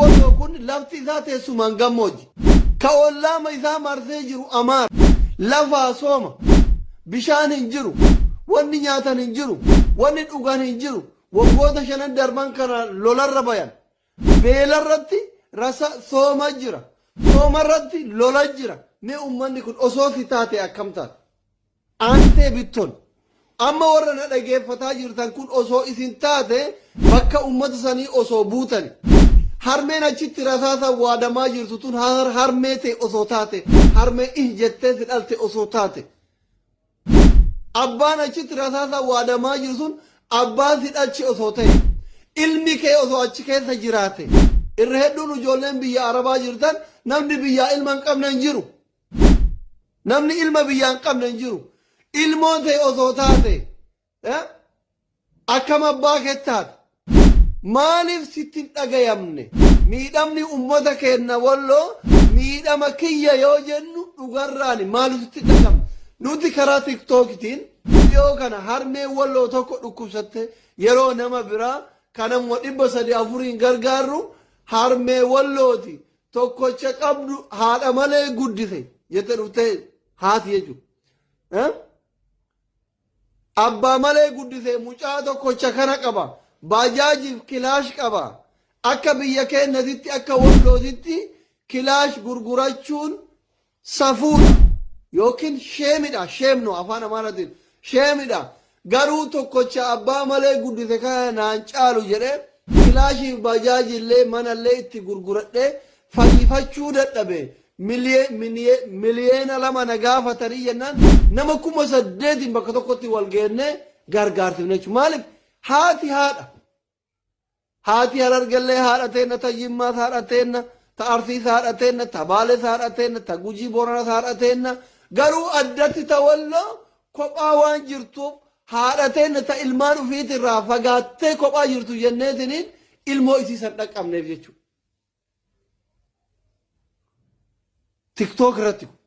Walloo kun lafti isaa teessumaan gammoojji. Ka ollaama isaa marsee jiru Amaara. Lafaa sooma. Bishaan hin jiru. Wanni nyaatan hin jiru. Wanni dhugan hin jiru. Waggoota shanan darban kana lolarra bayan. Beelarratti rasa sooma jira. Soomarratti lola jira. Mee ummanni kun osoo si taate akkam taata? Aantee Bitton, Amma warra na dhageeffataa jirtan kun osoo isin taate bakka uummata sanii osoo buutani. Harmeen achitti rasaasaan waadamaa jirtu tun harmee tee osoo taate, harmee ih jettee si dhalte osoo taate, abbaan achitti rasaasaan waadamaa jiru sun abbaa si dhalche osoo ta'e, ilmi kee osoo achi keessa jiraate, irra hedduun ijoolleen biyya Arabaa jirtan namni biyyaa ilma hin qabne hin jiru. Namni ilma biyyaa hin qabne hin jiru. Ilmoo ta'e osoo taate eh, akkam abbaa keetti taata? Maaliif sitti hin dhagayamne? Miidhamni uummata keenya walloo miidhama kiyya yoo jennu dhugarraani maaliif sitti hin dhagayamne? Nuti karaa tiktookitiin viidiyoo kana harmee walloo tokko dhukkubsatte yeroo nama biraa kanammoo dhibba sadii afuriin gargaarru harmee wallooti. tokkocha qabdu haadha malee guddise jette dhuftee haati jechuudha. Abbaa malee guddise mucaa tokkocha kana qaba. Baajaajiif kilaash qaba. Akka biyya keenyatitti akka wallootitti kilaash gurgurachuun Safuudha yookiin sheemidha shame no afaan amaaratiin sheemidha garuu tokkocha abbaa malee guddise kana naan caalu jedhee kilaashiif baajaajii illee mana illee itti gurguradhee fayyifachuu dadhabe miliyeena lama na gaafatanii jennaan nama kuma saddeetiin bakka tokkotti wal geennee gargaarsifne jechuudha maaliif haati haadha Haati Harargellee haadha teenna, ta Jimmaas haadha teenna, ta Arsiis haadha teenna, ta Baalees haadha teenna, ta Gujii Booranaas haadha teenna. Garuu addatti ta Walloo kophaa waan jirtuuf haadha teenna ta ilmaan ufiiti irraa fagaattee kophaa jirtu jenneetiniin ilmoo isii san dhaqqabneef jechuudha. TikTok irratti kun.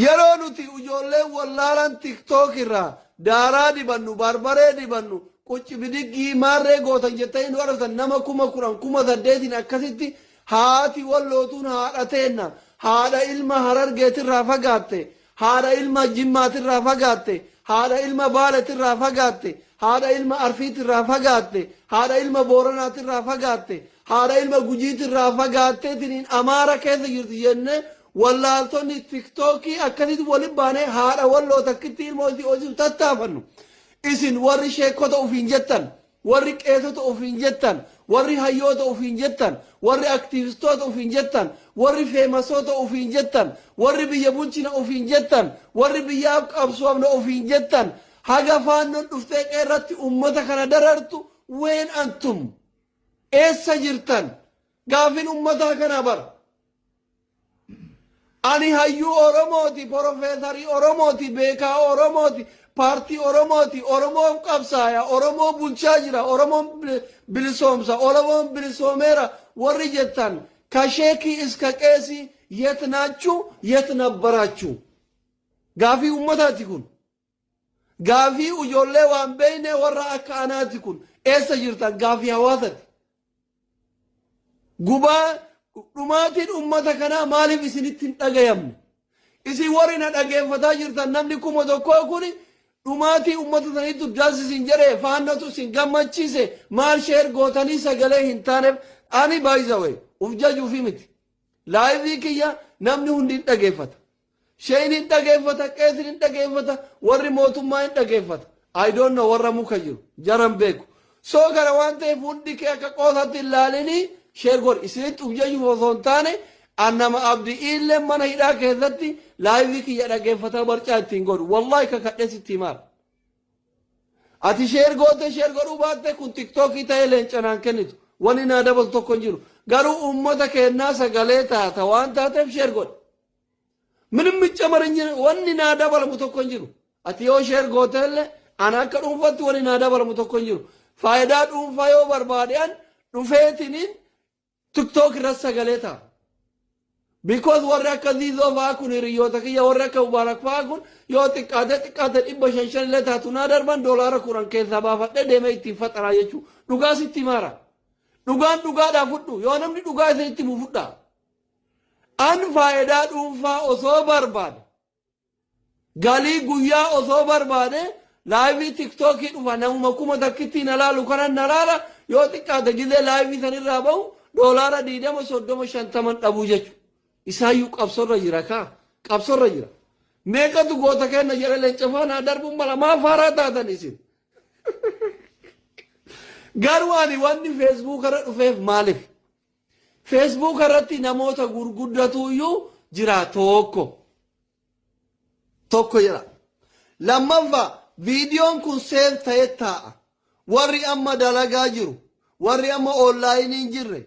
Yeroo nuti ijoolleen wallaalaan tiktok irraa daaraa dibannu, barbaree dibannu, qucci bidiggii, maarree gootan jettanii nu arrabsan nama kuma kudhan, kuma saddeetiin akkasitti haati walloo tun haadha teenna, haadha ilma harargeetirraa fagaatte, haadha ilma jimmaatirraa fagaatte, haadha ilma baaletirraa fagaatte, haadha ilma arsiitirraa fagaatte, haadha ilma booranaatirraa fagaatte, haadha ilma gujiitirraa fagaattee siniin amaara keessa jirti jennee Wallaaltonni tiktookii akkasitti wali baanee haadha walloo takkitti ilmoo itti hoosisuuf tattaafannu. Isin warri sheekkota ofiin jettan, warri qeesota ofiin jettan, warri hayyoota ofiin jettan, warri aktiivistoota ofiin jettan, warri feemasoota ofiin jettan, warri biyya bulchina ofiin jettan, warri biyyaaf qabsoofna ofiin jettan, haga faannoon dhuftee qeerratti ummata kana darartu ween antum eessa jirtan gaafin ummataa kanaa bara. Ani hayyuu Oromooti, porofeesarii Oromooti, beekaa Oromooti, paartii Oromooti, Oromoof qabsaaya, Oromoo bulchaa jira, Oromoon bilisoomsa, Oromoon bilisoomeera warri jettan ka sheekii iska qeesii yet naachuu yet nabbaraachuu. Gaafii uummataati kun. Gaafii ujoollee waan beeynee warra akka anaati kun eessa jirtan gaafii hawaasati. Gubaa dhumaatiin ummata kanaa maaliif isinitti hin dhagayamne? Isin warri na dhageeffataa jirtan namni kuma tokkoo kun dhumaatii ummata saniitu das isin jedhe faannatu isin gammachiise maal sheer gootanii sagalee hin taaneef ani baay'isa wayi uf jajuufi miti. Laayivii kiyya namni hundi hin dhageeffata. Sheyni hin dhageeffata, qeesin hin dhageeffata, warri mootummaa hin dhageeffata. I don't know warra muka jiru. Jaran beeku. Soo kana waan ta'eef hundi kee akka qoosatti hin laalini sheer godhi. Isinitti uf jechuuf osoo hin taane an nama abdi illee mana hidhaa keessatti laayivii kiyya dhageeffataa barcaa ittiin godhu. Wallaahi kakadhee sitti himaara. Ati sheer gootee sheer godhuu baattee kun tiktookii ta'ee leenca naan kennitu. Wanni naa dabalu tokko hin jiru. Garuu uummata keennaa sagalee taata waan taateef sheer godhi. Minim miccamar hin jiru wanni naa dabalamu tokko hin jiru. Ati yoo sheer gooteellee ana akka dhuunfatti wanni naa dabalamu tokko hin jiru. Faayidaa dhuunfaa yoo barbaade an dhufeetiniin tiktook irra sagalee ta'a. Because warri akka ziizoo fa'aa kun hiriyoota kiyya warri akka mubaarak fa'aa kun yoo xiqqaate xiqqaate dhibba shan shan illee taatu naa darban doolaara kudhan keessaa baafadhee deemee ittiin faxaraa jechuudha. Dhugaa sitti maara. Dhugaan dhugaadhaa fudhu yoo namni dhugaa isinitti himu fudhaa. An faayidaa dhuunfaa osoo barbaade galii guyyaa osoo barbaade laayivii tiktookii dhufa namuma kuma takkitti na laalu kanan na laala yoo xiqqaate gizee laayivii san irraa bahu doolaara diidama soddoma shantaman dhabuu jechu isaayyuu qabsorra jira kaa qabsorra jira meeqatu goota kenna jedhe lencafaa naa darbuun mala maa faaraa taatan isin garuu ani wanni feesbuukarra dhufeef maaliif Facebook irratti namoota gurguddatu iyyuu jira tokko tokko jira lammaffa viidiyoon kun seef ta'e taa'a warri amma dalagaa jiru warri amma oonlaayinii hin jirre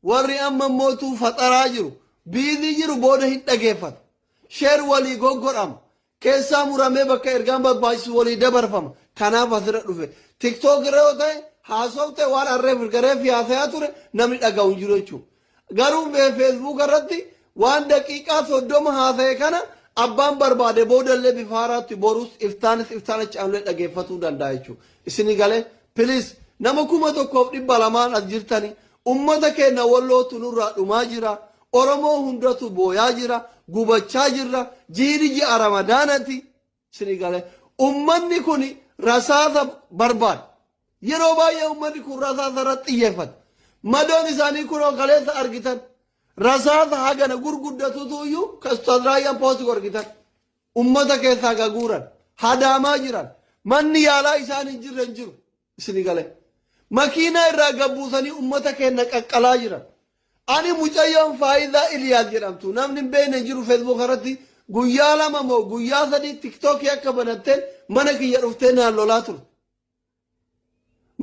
warri amma mootuu faxaraa jiru biizii jiru booda hin dhageeffatu sheer walii goggodhama keessaa muramee bakka ergaan barbaachisu walii dabarfama. Kanaaf asirra dhufe. Tiktook irra yoo ta'e haasofte waan harree firgaree fi haasayaa ture namni dhaga'u hin jiru jechuudha. Garuu mee feesbuuk irratti waan daqiiqaa soddoma haasa'e kana abbaan barbaade boodallee bifa haaraatti borus iftaanis iftaan achi aanulee dhageeffatuu danda'a jechuudha. Isin galee piliis nama kuma tokkoof dhibba lamaan as jirtani ummata keenya wallootu nurraa dhumaa jira. Oromoo hundatu booyaa jira, gubachaa jirra, jiini ji'a Ramadaanati. Isinii galee ummanni kun rasaasa barbaada. Yeroo baay'ee ummanni kun rasaasa irratti xiyyeeffata. Madoon isaanii kunoo kaleessa argitan. Rasaasa hagana gurguddatutu iyyuu kastan raayyaan poostu argitan. Ummata keessaa gaguuran, hadaamaa jiran, manni yaalaa isaan hin jirre hin jiru. isini galee. Makiinaa irraa gad buusanii uummata keenya qaqqalaa jiran. Ani mucayyoon Faayizaa Iliyaas jedhamtu namni hin beekne hin jiru Facebook irratti guyyaa lama moo guyyaa sadii tiktookii akka banatteen mana kiyya dhuftee naan lolaa turte.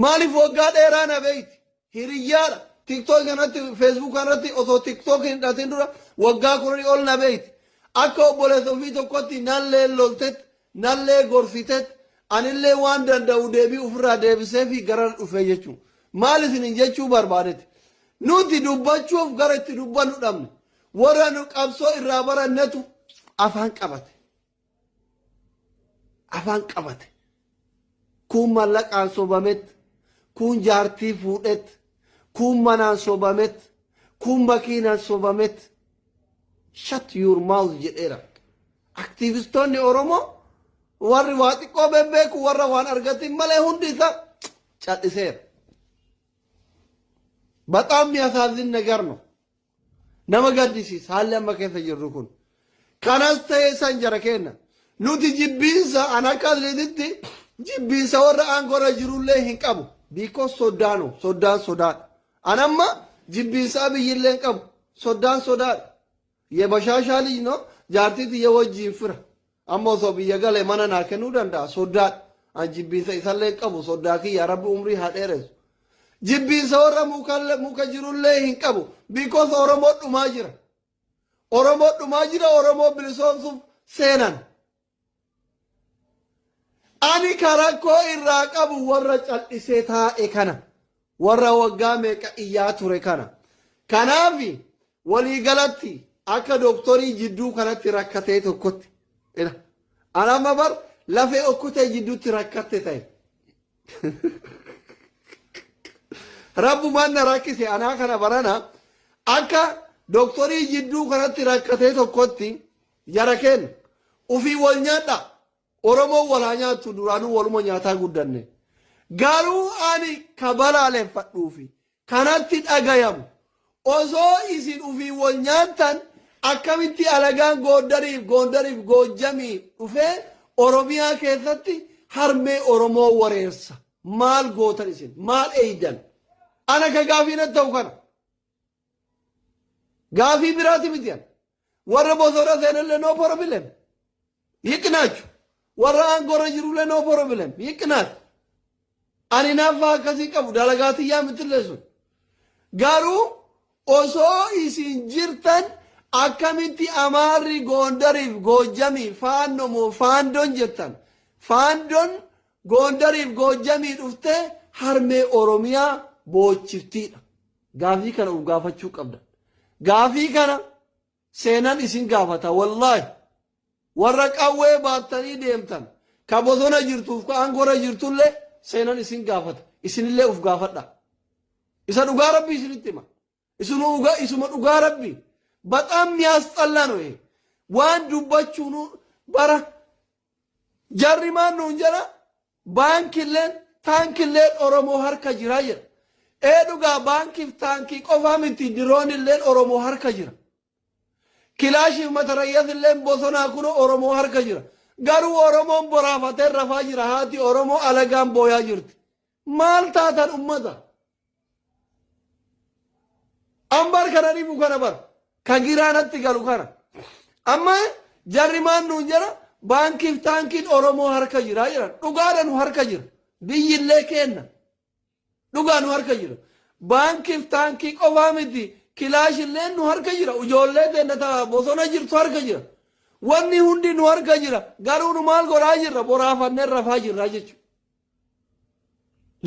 Maaliif waggaa dheeraa na beekti? Hiriyyaadha. Tiktok irratti, Facebook irratti osoo TikTok hin dhatin dura waggaa kudhanii ol na beekti. Akka obboleessa ofii tokkotti nallee loltet, nallee gorsitet, anillee waan danda'u deebii ofirraa deebisee fi gara dhufee jechuu. Maal isinin jechuu barbaadeti? Nuti dubbachuuf gara itti dubbannu dhabne. Warra nu qabsoo irraa barannetu afaan qabate. afaan qabate kuun mallaqaan sobamet kuun jaartii fuudhet kuun manaan sobamet kuun makiinaan sobamet shut your mouth jedheera aktiivistoonni oromoo warri waa xiqqoo bebbeeku warra waan argatin malee hundi isaa cal'iseera bataam miyasaazin nagar no Nama gaddisiisa haalli amma keessa jirru kun. Kanas ta'e san jara keenna. Nuti jibbiinsa an akka atleetitti jibbiinsa warra aangoorra jirullee hin qabu. Biikoo soddaanu soddaan sodaadha. An amma jibbiinsa abiyyillee hin qabu. Soddaan sodaadha. Yebashaashaa lij no jaartii tiyya wajjiin fira. Amma osoo biyya gale mana naa kennuu danda'a soddaadha. An jibbiinsa isallee hin qabu soddaa kiyya rabbi umrii haa dheeressu. Jibbiinsa warra mukalle- muka jirullee hin qabu because Oromoo dhumaa jira. Oromoo dhumaa jira Oromoo bilisoomsuuf seenan. Ani ka rakkoo irraa qabu warra cal'isee taa'e kana. Warra waggaa meeqa iyyaa ture kana. Kanaafi Walii galatti akka doktorii jidduu kanatti rakkatee tokkotti ila an amma bar lafee okkutee jidduutti rakkatte ta'e. Rabbumaan na rakkise anaa kana barana akka doktorii jidduu kanatti rakkatee tokkotti jara kenna. Ufii wal nyaadha. Oromoon wal haa nyaattu duraanuu waluma nyaataa guddanne. Garuu ani ka balaaleffadhuufi kanatti dhagayamu. Osoo isin ufiin wol nyaattan akkamitti alagaan Gooddarii fi Goondar fi Goojjamii dhufee Oromiyaa keessatti harmee Oromoo wareersa? Maal gootan isin? Maal eeydan? Ana ka gaafii natti ta'u kana. Gaafii biraati miti ana. Warra bosona seenellee no problem. Hiqnaachu. Warra aangorra jirullee no problem. Hiqnaatu. Ani naaffaa akkasii qabu dalagaa tiyyaa mitillee sun. Garuu osoo isin jirtan akkamitti amaarri goondariif goojjamii faanno moo faandon jettan. Faandon goondariif goojjamii dhuftee harmee Oromiyaa boochiftiidha. Gaafii kana of gaafachuu qabdan. Gaafii kana seenan isin gaafata wallaahi. Warra qawwee baattanii deemtan ka bosona jirtuuf ka aangora jirtullee seenan isin gaafata. Isinillee of gaafadha. Isa dhugaa rabbii isinitti hima. Isuma dhugaa isuma dhugaa rabbii. Baxaam miyaasxallaa no ee. Waan dubbachuunu bara jarri maan nuun jedha Baankilleen taankilleen Oromoo harka jira jedha. Ee dhugaa baankiif taankii qofaa miti diroonilleen Oromoo harka jira. Kilaashiif matarayyazilleen bosonaa kunoo Oromoo harka jira. Garuu Oromoon boraafatee rafaa jira haati Oromoo alagaan booyaa jirti. Maal taatan ummata? Ambar kana dhibu kana bar. Ka giraa natti galu kana. Amma jarri maan nuun jara baankiif taankiin Oromoo harka jira jedhan. Dhugaadha nu harka jira. Biyyillee keenna. Dhugaa nu harka jira. Baankiif taankii qofaa miti kilaashillee nu harka jira. Ijoollee teenna ta'a bosona jirtu harka jira. Wanni hundi nu harka jira. Garuu nu maal godhaa jirra? Boraafannee rafaa jirra jechuudha.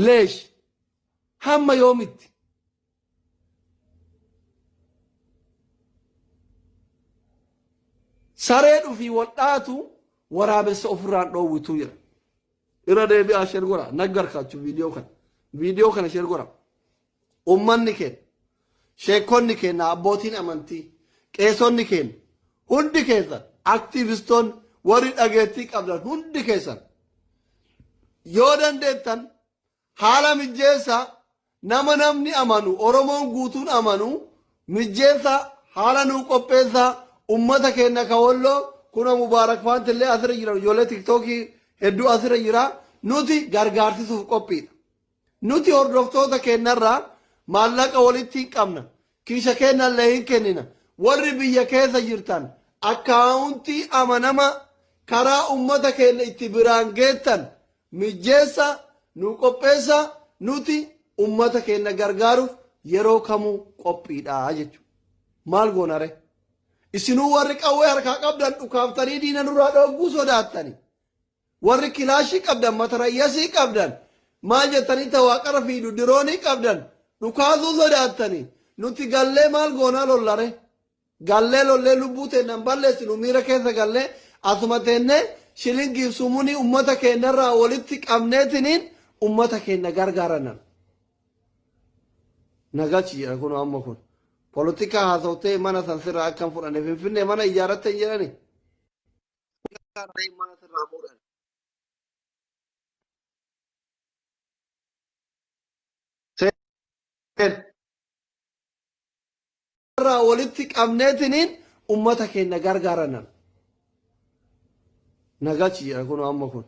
Leesh hamma yoomitti? Saree dhufii wal dhaatu waraabessa ofirraan dhoowwituu jira. Irra deebi'aa sheer godhaa naggarkaachuu viidiyoo kana. Viidiyoo kana sheer godhaa. Ummanni keenya, sheekkonni keenya, abbootiin amantii, qeesonni keenya hundi keessan, aktiivistoonni warri dhageettii qabdan hundi keessan yoo dandeettan haala mijjeessaa nama namni amanu Oromoon guutuun amanu mijjeessaa haala nuu qopheessaa ummata keenya ka walloo kuna Mubaarak Faant illee asirra jiran ijoollee tiktookii hedduu asirra jira nuti gargaarsisuuf qophiidha. Nuti hordoftoota keennarraa maallaqa walitti hin qabna. Kiisha keennallee hin kennina. Warri biyya keessa jirtan akkaawuntii amanamaa karaa ummata keenna itti biraan geettan mijjeessaa nuu qopheessaa nuti ummata keenna gargaaruuf yeroo kamuu qophiidha jechuudha. Maal goona ree? Isinuu warri qawwee harkaa qabdan dhukaaftanii diina nurraa dhoogguu sodaattanii. Warri kilaashii qabdan matarayyasii qabdan maal jettanii ta waaqarra fiidu diroonii qabdan dhukaasuu sodaattanii nuti gallee maal goonaa lolla ree? Gallee lollee lubbuu teenna hin balleessinu miira keessa gallee asuma teennee shilingiif sumunii ummata keennarraa walitti qabneetiniin ummata keenna gargaarannan. Nagachi jedha kun amma kun. Polotikaa haasawtee mana san sirraa akkan fudhanne finfinnee mana ijaarratte hin jedhanii? Akka harreen mana sirraa fuudhan. irraa walitti qabneetiniin ummata keenya gargaarannan. Nagachi jedha kun amma kun.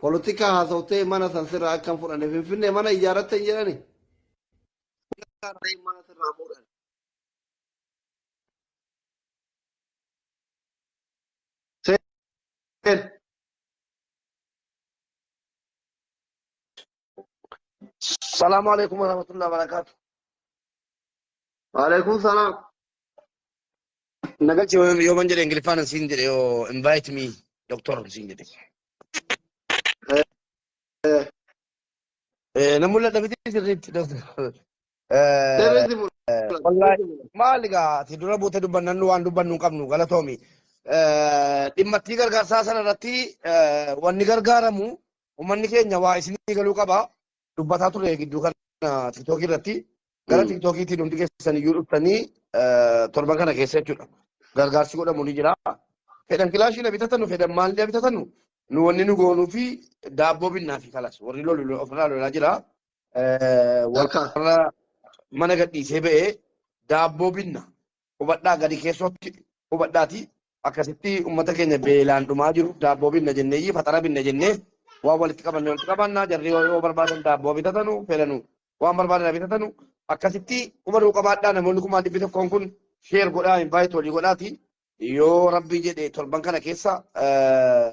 Polotikaa haasawtee mana san sirraa akkam fudhanne finfinnee mana ijaarratte hin jedhani. Harreen mana sirraa fuudhan. Seen. Salaamu alaikum warahmatullahi wabarakatuh. Waalaikum salaam. Naga ce yoo man jedhe Ingiliffaan hin siin jedhe yoo invite me doctor hin siin jedhe. Eh, Eh, Na mul'ata miti sirriitti doctor. Deebiin si mul'ata. Wallahi maal egaa ati dura buute dubbannan nu waan dubbannu hin qabnu galatoomi. Dhimmattii gargaarsaa sana irratti wanni gargaaramu uummanni keenya waa isinii galuu qaba. Dubbataa ture gidduu kana tiktookii irratti gara tiktookiitiin hundi keessan iyyuu dhuftanii torban kana keessa jechuudha. Gargaarsi godhamu ni jira. Fedhan kilaashii na bitatanu fedhan maal na bitatanu nu wanni nu goonuu fi daabboo binnaa fi kalas warri lolu ofirraa lolaa jira. Akka. warra mana gadhiisee ba'e daabboo binna hubadhaa gadi keessootti hubadhaati akkasitti uummata keenya beelaan dhumaa jiru daabboo binna jennee iyyii faxara binna jennee waan walitti qabanne walitti qabannaa jarri yoo yoo barbaadan daabboo bitatanu fedhanu waan barbaadan bitatanu akkasitti hubaduu qabaadhaa namoonni kumaa dhibbi tokkoon kun sheer godhaa invaayitii walii godhaati yoo rabbii jedhe torban kana keessa eh,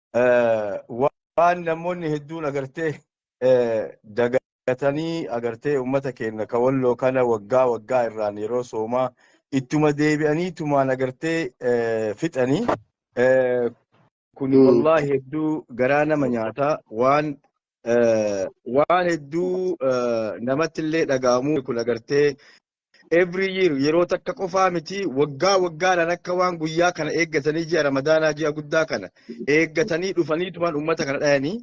waan namoonni hedduun agartee dagatanii agartee uummata keenya ka walloo kana waggaa waggaa irraan yeroo soomaa ittuma deebi'anii tumaan agartee fixanii kuni wallaahi hedduu garaa nama nyaata waan waan hedduu namatti illee dhaga'amu kun agartee every year yeroo takka qofaa miti waggaa waggaadhaan akka waan guyyaa kana eeggatanii ji'a ramadaanaa ji'a guddaa kana eeggatanii dhufanii tuman uummata kana dhayanii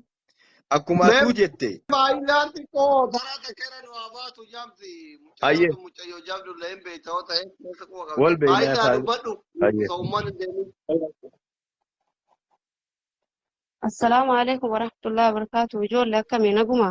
akkuma Mee atuu jette baay'inaan xiqqoo taraa takka irra nu haa baatu jaamsi mucayyoo ayyee tun mucayyoo jaamdullee hin beekta yoo ta'e keessa quba qabda wal beeynaa baay'inaan isaa dubbadhu ayyee osoo uummanni hin deemin. Assalaamu alaikum warahmatullahi wabarakatuh. Ijoollee akkamii naguma?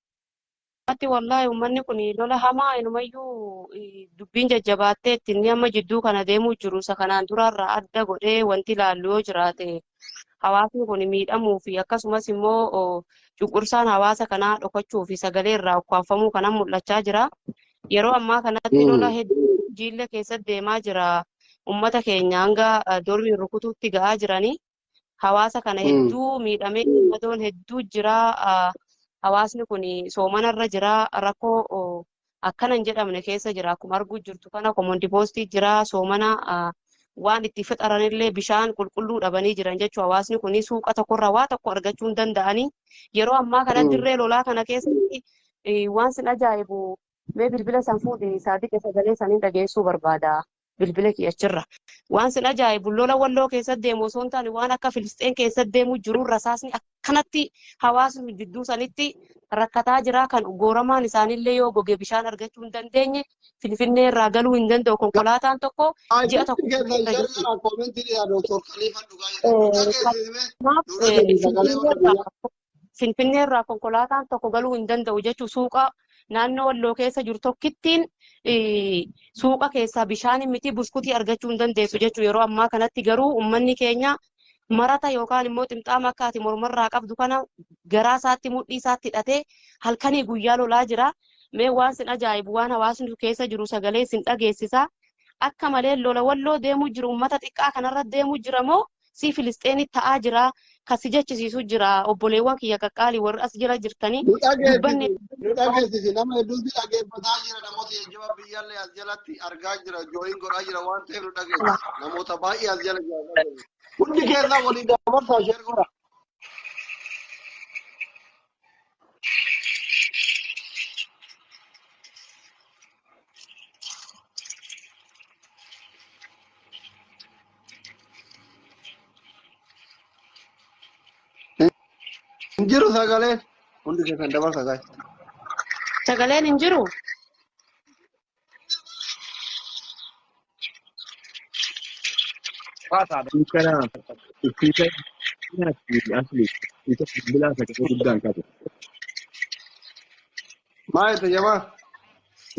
Ammatti wallaahi ummanni kun lola hamaa inumayyuu eh, dubbiin jajjabaattee itti inni amma jidduu kana deemuu jiru isa kanaan duraarraa adda godhee wanti ilaallu yoo jiraate hawaasni kun miidhamuu fi akkasumas immoo oh, cunqursaan hawaasa kanaa dhokachuu fi sagalee irraa ukkaamfamuu kanan mul'achaa jira. Yeroo ammaa kanatti lola Mm. hedduu jiillee keessatti deemaa jira. Ummata keenya hanga eh, dormiin rukutuutti ga'aa jiranii. hawaasa kana Mm. hedduu miidhamee madoon hedduu jira ah, hawaasni kun soomana irra jira rakkoo oh, akkana hin jedhamne keessa jira akkuma arguu jirtu kana komondi poostii jira soomana ah, waan itti fixaran illee bishaan qulqulluu dhabanii jiran jechuun hawaasni kun suuqa tokkorraa waa tokko argachuu hin danda'anii yeroo ammaa kana Mm. dirree lolaa kana keessatti eh, waan sin ajaa'ibu mee bilbila san fuudhi saadiqa sagalee saniin dhageessuu barbaada. bilbila kiyya achirraa. Waan sin ajaa'ibu lola walloo keessatti deemu osoo hin taane waan akka Filisxeen keessatti deemu jiru rasaasni akkanatti hawaasni jidduu sanitti rakkataa jira kan gooramaan isaanillee yoo goge bishaan argachuu hin dandeenye Finfinnee irraa galuu hin danda'u konkolaataan tokko ji'a tokko irra jirti. Kanaaf Finfinnee irraa Finfinnee irraa konkolaataan tokko galuu hin danda'u jechuun suuqa naannoo walloo keessa jiru tokkittiin suuqa keessaa bishaan miti buskutii argachuu hin dandeessu jechuun yeroo ammaa kanatti garuu uummanni keenya marata yookaan immoo ximxaama akka ati mormarraa qabdu kana garaa isaatti mudhii isaatti hidhatee halkanii guyyaa lolaa jira. Mee waan sin ajaa'ibu waan hawaasni keessa jiru sagalee sin dhageessisa. Akka malee lola walloo deemuu jiru uummata xiqqaa kanarra deemuu jira moo si filisxeeni ta'aa jiraa kan si jechisiisu jira obboleewwan kiyya qaqqaali warri as jira jirtanii Nu dubbanne dhageessisi, nu dhageessisi. Nama hedduutu dhaggeeffataa jira. Namoota jajjabaa biyyaallee as jalatti argaa jira. Jooyin godhaa jira waan ta'eef nu dhageessisi. Namoota baay'ee as jala jira dhageessisi. Hundi keessaa waliin dabarsaa sheer godha. Hin jiru sagaleen. Hundi keessan dabarsa gaa'e. Sagaleen hin jiru. Kana ittisa asli ittisa bilbilaa sagalee guddaan qabu. Maal jette jamaa?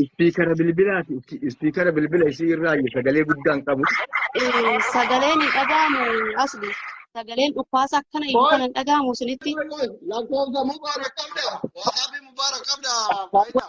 Ispiikara bilbilaa ispiikara bilbila isii irraa sagalee guddaan qabu. Eh, sagaleen hin dhaga'amu asli. Sagaleen dhukkaasa akkana iyyuu kan hin dhaga'amu isinitti. Lakkoofsa Mubaarak qabda. Waasaabii Mubaarak qabda. Faayidaa.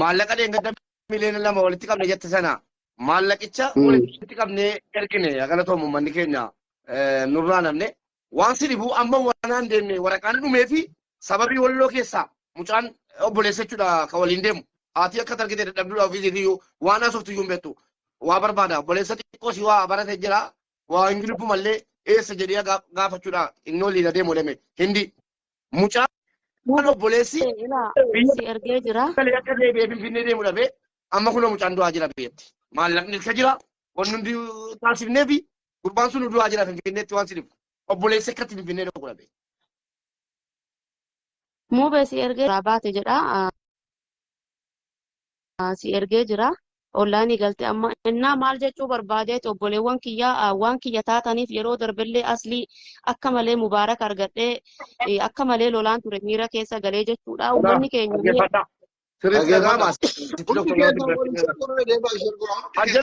maallaqa dheengadda miliyoona lama walitti qabne jette sana maallaqicha Mm. walitti qabnee ergine galatoomu uummanni keenya eh, nurraa namne waan si dhibuu amma waanaan deemne waraqaan dhumee fi sababii walloo keessaa mucaan obboleessa jechuudha ka waliin deemu haati akka targite dadhabduudha ofiisiif iyyuu waan haasoftu iyyuu hin beektu waa barbaada obboleessa xiqqoo si waa barate jira waa hin gilbu mallee eessa jedhee gaa- gaafachuudha inni waliin adeemu deeme hindi Mucaan Duuba obboleessi ta'e ilaa biyya si ergee jira. galee akka deebi'ee Finfinnee deemu dhabee amma kunoo mucaan du'aa jira biyyatti. Maallaqni ilka jira wanni hundi taasifnee fi gurbaan sun du'aa jira Finfinneetti waan si dhibu. Obboleessi akkatti Finfinnee dhaqu dhabee. Muubee si ergee jira baate jedha. si ergee jira. Online galte amma innaa maal jechuu barbaadeeti obboleewwan kiyya waan kiyya taataniif yeroo darbellee aslii akka malee mubaarak argadhee akka malee lolaan ture miira keessa galee jechuudha ummanni keenya mee Dhaggeeffadhaa. Sirriitti dhaga'ama. Asitti Hundi tokko keenya waliin tokko irra deemaa ishee godhaa. Hundi keenya.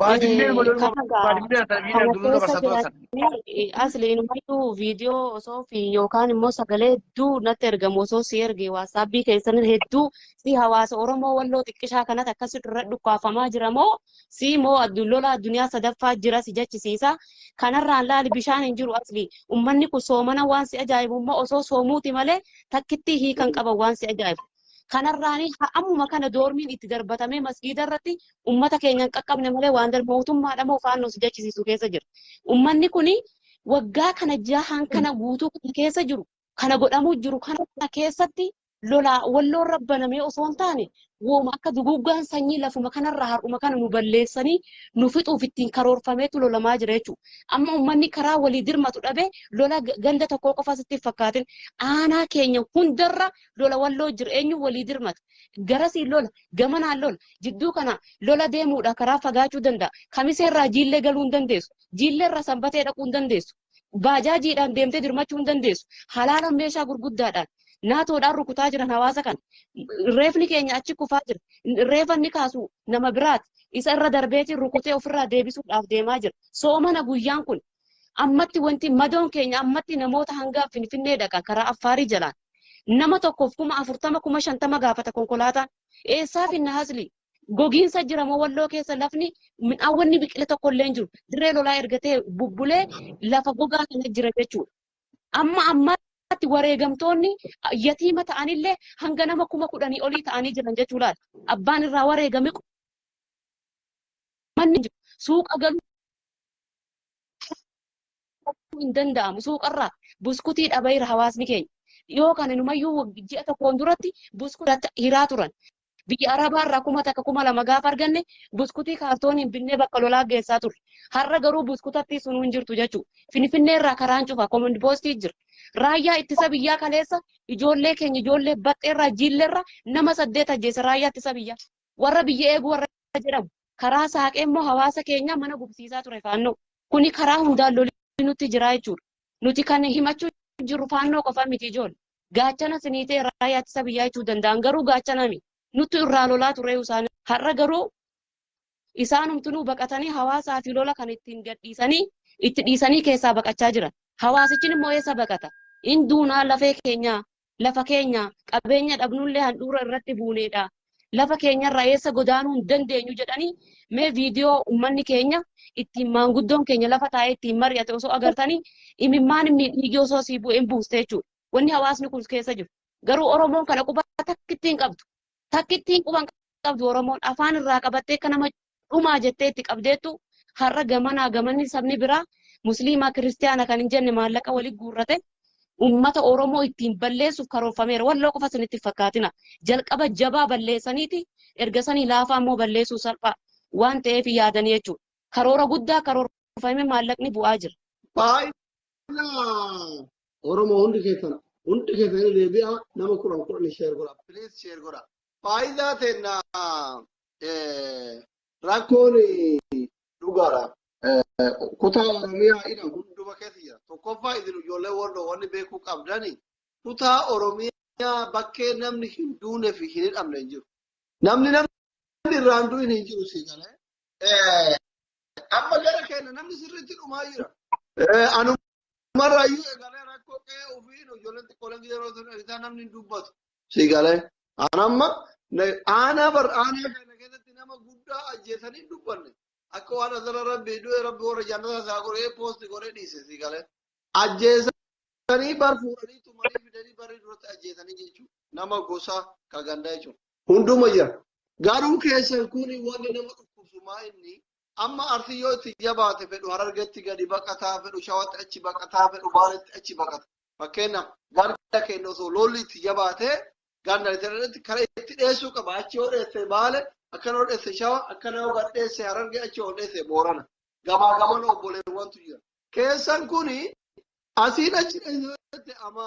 Baadillee Eh, madaluma kana gaa baadillee haa ta'e miidhaan kana guduu keessa dabarsaa turan sana. jiraatanii asli inumayyuu viidiyoo osoo fi yookaan immoo sagalee hedduu natti ergamu osoo si erge waatsaapii keessan hedduu si hawaasa Oromoo walloo xiqqishaa kanatti akkas irra dhukkaafamaa jira moo si moo addu- lola addunyaa sadaffaa jira si jechisiisa kanarraan laali bishaan hin jiru asli ummanni kun soomana waan si ajaa'ibu immoo osoo soomuuti malee takkitti hiikan qaban waan si ajaa'ibu Kanarraanii ha- ammuma kana doormiin itti darbatamee masgiida irratti ummata keenya hin qaqqabne malee waan darbe mootummaadha moo faannoo si jechisiisu keessa jira. Ummanni kuni waggaa kana jahaan kana guutuu kana keessa jiru kana godhamuu jiru kana kana keessatti lolaa walloon rabbanamee osoo hin taane wooma akka duguuggaan sanyii lafuma kanarraa har'uma kana nu balleessanii nu fixuuf ittiin karoorfameetu lolamaa jira jechuudha. Amma ummanni karaa walii dirmatu dhabee lola g- ganda tokkoo qofa sitti hin fakkaatin aanaa keenya hundarra lola walloo jiru eenyu walii dirmata garasiin lola gamanaan lola jidduu kana lola deemuudha karaa fagaachuu danda'a kamiseerraa jiillee galuu hin dandeessu jiilleerraa sanbatee dhaquu hin dandeessu baajaajiidhaan deemtee dirmachuu hin dandeessu halaalan meeshaa gurguddaadhaan naatoodhaan rukutaa jiran hawaasa kana reefni keenya achi kufaa jira reefa inni kaasu nama biraati isa irra darbeetiin rukutee ofirraa deebisuudhaaf deemaa jira soomana guyyaan kun Ammatti wanti madoon keenya ammatti namoota hanga Finfinnee dhaqa karaa Affaarii jalaan. Nama tokkoof kuma afurtama kuma shantama gaafata konkolaataan. Eessaa finna hasli? Gogiinsa jira moo walloo keessa lafni midhaan wanni biqile tokko illee hin jiru. Dirree lolaa ergatee bubbulee lafa gogaa kana jira jechuudha. Amma ammaatti wareegamtoonni yatiima ta'anillee hanga nama kuma kudhanii olii ta'anii jiran jechuu laata. Abbaan irraa wareegame manni jiru suuqa galu hin danda'amu suuqarraa buskutii dhabeera hawaasni keenya. Dhiyoo kana numayyuu ji'a tokkoon duratti buskutii hiraa turan. Biyya Arabaarraa kuma takka kuma lama gaafa arganne buskutii kaartooniin binnee bakka lolaa geessaa turre. Har'a garuu buskutattii sun hin jirtu jechuudha. Finfinneerraa karaan cufa komand poostii jira. Raayyaa ittisa biyyaa kaleessa ijoollee keenya ijoollee baxxeerraa jiilleerraa nama saddeet ajjeese raayyaa ittisa biyyaa. Warra biyya eegu warra jedhamu. Karaa saaqee immoo hawaasa keenya mana gubsiisaa ture faannoo. Kuni karaa hundaan loli nutti jiraa jechuudha. Nuti kan himachuu jirru faannoo qofa miti ijoollee. Gaachana siniitee raayyaa ittisa biyyaa jechuu danda'an garuu gaachana miti. Nuttu irraa lolaa turee isaan. Har'a garuu isaanumtunuu baqatanii hawaasaa fi lola kan ittiin gadhiisanii itti dhiisanii keessaa baqachaa jiran. Hawaasichin immoo eessa baqata? Hin duunaa lafee keenyaa lafa keenya qabeenya dhabnullee handhuura irratti buuneedha. Lafa keenyarraa eessa godaanuu hin dandeenyu jedhanii mee viidiyoo uummanni keenya ittiin maanguddoon keenya lafa taa'ee ittiin mari'ate osoo agartanii imimmaan inni dhiigii osoo sii bu'e hin buuste jechuudha. Wanni hawaasni kun keessa jiru. Garuu Oromoon kana quba takkittiin qabdu. Takkittiin quba hin qabdu Oromoon afaan irraa qabattee akka nama dhumaa jettee itti qabdeettu har'a gamanaa gamanni sabni biraa musliimaa kiristiyaana kan hin jenne maallaqa walitti guurrate ummata Oromoo ittiin balleessuuf karoorfameera. Walloo qofa isinitti hin fakkaatina. Jalqaba jabaa balleessaniiti erga sanii laafaa immoo balleessuu salphaa waan ta'eef yaadanii jechuudha. Karoora guddaa karoorfamee maallaqni bu'aa jira. Baay'ina Oromoo hundi keessan hundi keessan deebi'a nama kudhan kudhan sheer godha. Please sheer godha. Faayidaa teenna rakkoon dhugaadha. Kutaa Oromiyaa ina hunduma keessa jira. Tokkoffaa isin ijoollee warra wanni beekuu qabdani kutaa Oromiyaa bakkee namni hin duune fi hin hidhamne hin jiru. Namni namni irraan du'in hin jiru sii galee. Amma gara keenya namni sirriitti dhumaa jira. Anuma Dhumarraa iyyuu eegalee rakkoo qe'ee ofii ijoolleen xiqqooleen yeroo isaa namni hin dubbatu. Sii galee aan amma aanaa bar aanaa kana keessatti nama guddaa ajjeesanii hin dubbanne. Akka waan asirra rabbi du'e rabbi warra jaannataa isaa godhee poosti godhee dhiise sii galee. Ajjeesanii bar fuudhanii tumanii fidanii barri duratti ajjeesanii jechuudha. Nama gosaa ka gandaa jechuudha. Hunduma jira. Garuu keessan kun wanti nama dhukkubsu maa inni Amma Arsiin yoo itti jabaate fedhu Harargetti gadi baqataa fedhu Shawatti achi baqataa fedhu Baaletti achi baqata. Fakkeenyaaf ganda keenya osoo lolli itti jabaate ganda irratti karaa itti dheessuu qaba. Achi yoo dheesse Baale akkana yoo dheesse Shawa akkana yoo gad dheesse Harargee achi yoo dheesse Boorana. Gamaa gamana obboleewwantu jira. Keessan kuni asiin achi dheesse ama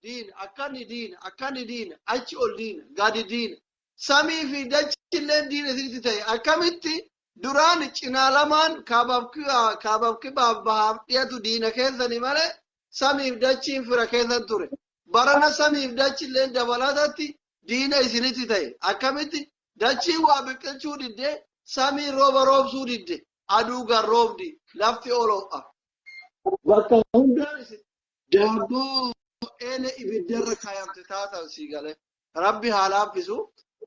diin akkani diin akkani diin achi ol diin gadi diin samii fi dachilleen diina isinitti ta'e akkamitti duraan cinaa lamaan kaabaaf kibaa- kaabaaf kibaaf bahaaf dhiyatu diina keessani malee samiif dachiin fira keessan ture barana samiif dachilleen dabalatatti diina isinitti ta'e akkamitti dachiin waa biqilchuu didde samiin rooba roobsuu didde aduu garroobdi lafti oloo'a bakka hundaan isin daabboo eela ibiddarra kaayamte taatan sii galee Rabbi haa laaffisu.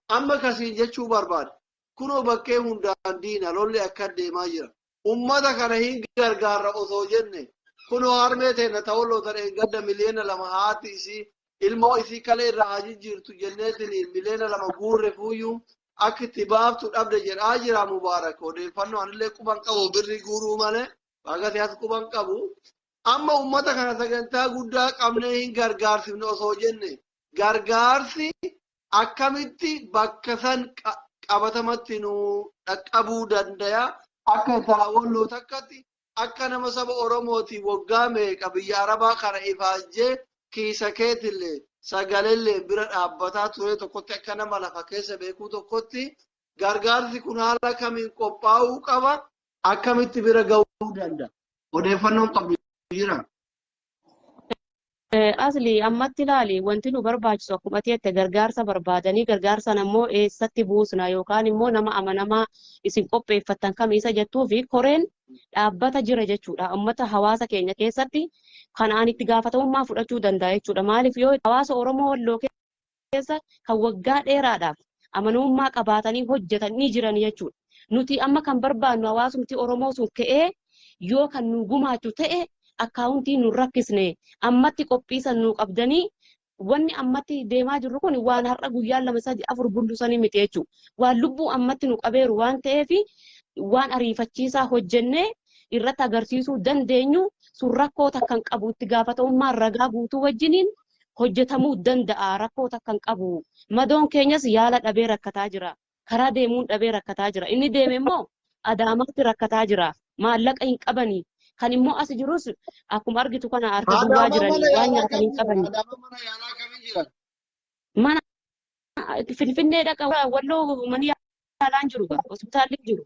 Amma ka siin jechuu barbaade kunoo bakkee hundaan diina lolli akkan deemaa jira. Ummata kana hin gargaarra osoo jenne kunoo harmee teenna ta Walloo ta dheengadda miliyoona lama haati isii ilmoo isii kalee irraa haa jijjiirtu jenneetiniin miliyoona lama guurrefuuyyuu akka itti baaftu dhabde jedhaa jira Mubaarak odeeffannoo anillee quban qabu birri guuruu malee baagati as quban qabu. Amma ummata kana sagantaa guddaa qabnee hin gargaarsifne osoo jenne Gargaarsi akkamitti bakka san qabatamatti nu dhaqqabuu dandaya? Akka intalaa Walloo takkatti akka nama saba Oromooti woggaa meeqa biyya Arabaa kana ifaajjee kiisa keetilleen sagalelleen bira dhaabbataa turee tokkotti akka nama lafa keessa beekuu tokkotti gargaarsi kun haala kamiin qophaa'uu qaba? Akkamitti bira ga'uu danda'a? Odeeffannoon qabdu jira? Asli ammatti ilaali wanti nu barbaachisu akkuma ati jette gargaarsa barbaadanii gargaarsan ammoo eessatti buusna yookaan immoo nama amanamaa isin qopheeffattan kam isa jettuu fi koreen dhaabbata jira jechuudha. Uummata hawaasa keenya keessatti kan ani itti gaafatamummaa fudhachuu danda'a jechuudha. Maaliif yoo hawaasa Oromoo walloo keessa kan waggaa dheeraadhaaf amanamummaa qabaatanii hojjetan ni jiran jechuudha. Nuti amma kan barbaannu hawaasumti Oromoo sun ka'ee yoo kan nu gumaachu ta'e akkaawuntii nu rakkisne ammatti qophiisan nu qabdanii wanni ammatti deemaa jirru kun waan har'a guyyaan lama sadi afur bullusanii miti jechuudha. Waan lubbuu ammatti nu qabeeru waan ta'eef waan ariifachiisaa hojjennee irratti agarsiisuu dandeenyu sun rakkoo takkan qabu itti gaafatamummaa ragaa guutuu wajjiniin hojjetamuu danda'a rakkoo takka hin qabu madoon keenyas yaala dhabee rakkataa jira karaa deemuun dhabee rakkataa jira inni deeme immoo adaamaatti rakkataa jira maallaqa hin qabani kan immoo as jirus akkuma argitu kana harka duwwaa Adaamaa mana jiranii waan yaalaa nyaatan hin kamiin jiran? qabani Adaamaa mana yaalaa kamiin jiran? mana finfinnee dhaqa walloo mani yaalaa hin jiru gaa hospitaalli hin jiru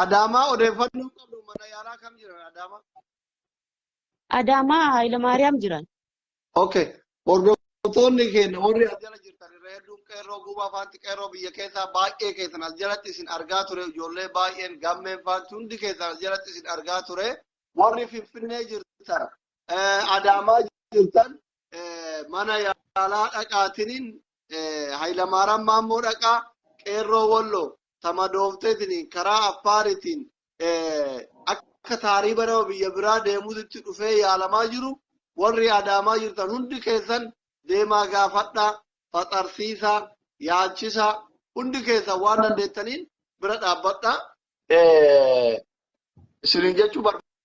Adaamaa odeeffannoo qabdu mana yaalaa kam jiran Adaamaa? Adaamaa Hayilamaariyaam jiran. Okay. Hordoftoonni keenya warri as jala jirtan irra hedduun qeerroo guuba afaanti qeerroo biyya keessaa baay'ee keessan as jalatti isin argaa ture ijoollee baay'een gammeen faanti hundi keessan as jalatti isin argaa ture warri finfinnee jirtan eh, adaamaa jirtan eh, mana yaalaa dhaqaatiniin eh, hayilamaaraan maammoo dhaqaa qeerroo walloo ta madoofteetiniin karaa affaariitiin akka taariiba nama biyya biraa deemuutitti dhufee yaalamaa jiru warri adaamaa jirtan hundi keessan deemaa gaafadhaa faxarsiisaa yaalchisaa hundi keessan waan dandeettaniin bira dhaabbadhaa isiniin jechuu barbaada.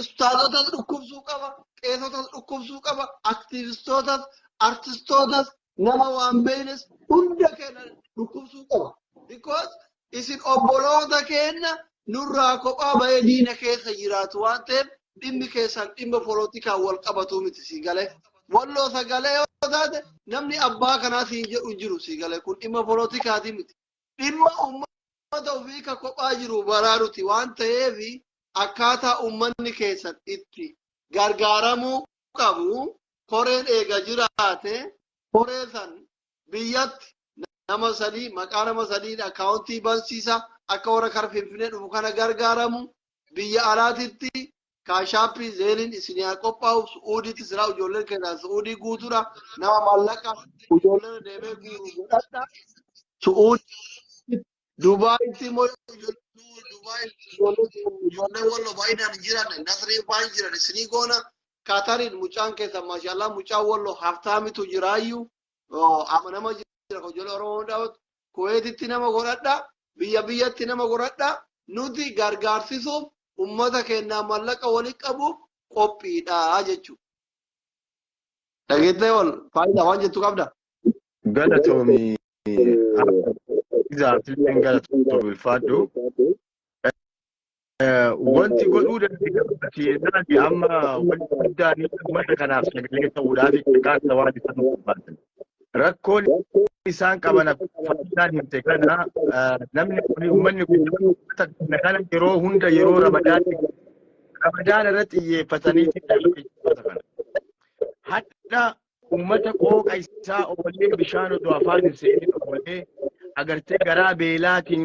ustaazotas dhukkubsuu qaba, qeesotas dhukkubsuu qaba, aktiivistootas, artistootas, nama waan beeynes hunda keenya dhukkubsuu qaba. Because isin obboloota keenya nurraa kophaa bahee diina keessa jiraatu waan ta'eef dhimmi keessan dhimma polotikaan wal qabatuu miti sii galee. Walloo sagalee yoo taate namni abbaa kanaa siin jedhu hin jiru sii galee kun dhimma polotikaatii miti. dhimma uummata ofii ka kophaa jiru baraaruti waan ta'eef akkaataa uummanni keessan itti gargaaramuu qabu koreen eega jiraate koree san biyyatti nama sadii maqaa nama sadiin akkaawuntii bansiisa akka warra kara finfinee dhufu kana gargaaramu biyya alaatitti kaashaappii zeeliin isin haa qophaa'u su'uudiitti siraa ijoolleen keessaa su'uudii guutuudha nama maallaqa ijoolleen deemee guuru godhadha su'uudii dubaayitti immoo ijoolleen dubaayii ijoollee deemu ijoollee wallo baay'inaan jiran nasrii baay'ee jiran isinii goona kaatariin mucaan keessa maashaallah mucaan wallo haftaamitu jiraayyuu amanama jira ijoollee oromoo hundaawotu Kuweetitti nama godhadha, biyya biyyatti nama godhadha, nuti gargaarsisuuf ummata keenyaa mallaqa wali qabuuf qophiidha jechuudha. Dhageettee ol faayidaa waan jettu qabda? Galatoomi. Exactly. Galatoomi ulfaadhu. Wanti godhuu dandeenyaan amma wanti guddaan uummata kanaaf sagalee ta'uudhaaf xiqqaata waan isaan barbaaddan. Rakkoon isaan qaban faayidaan himte kana namni kun uummanni kun uummata kana yeroo hunda yeroo ramadaan ramadaan irratti xiyyeeffatanii uummata kana. Hadha uummata qooqa isaa oolee bishaan odoo afaan hin seenin oolee agartee garaa beelaatiin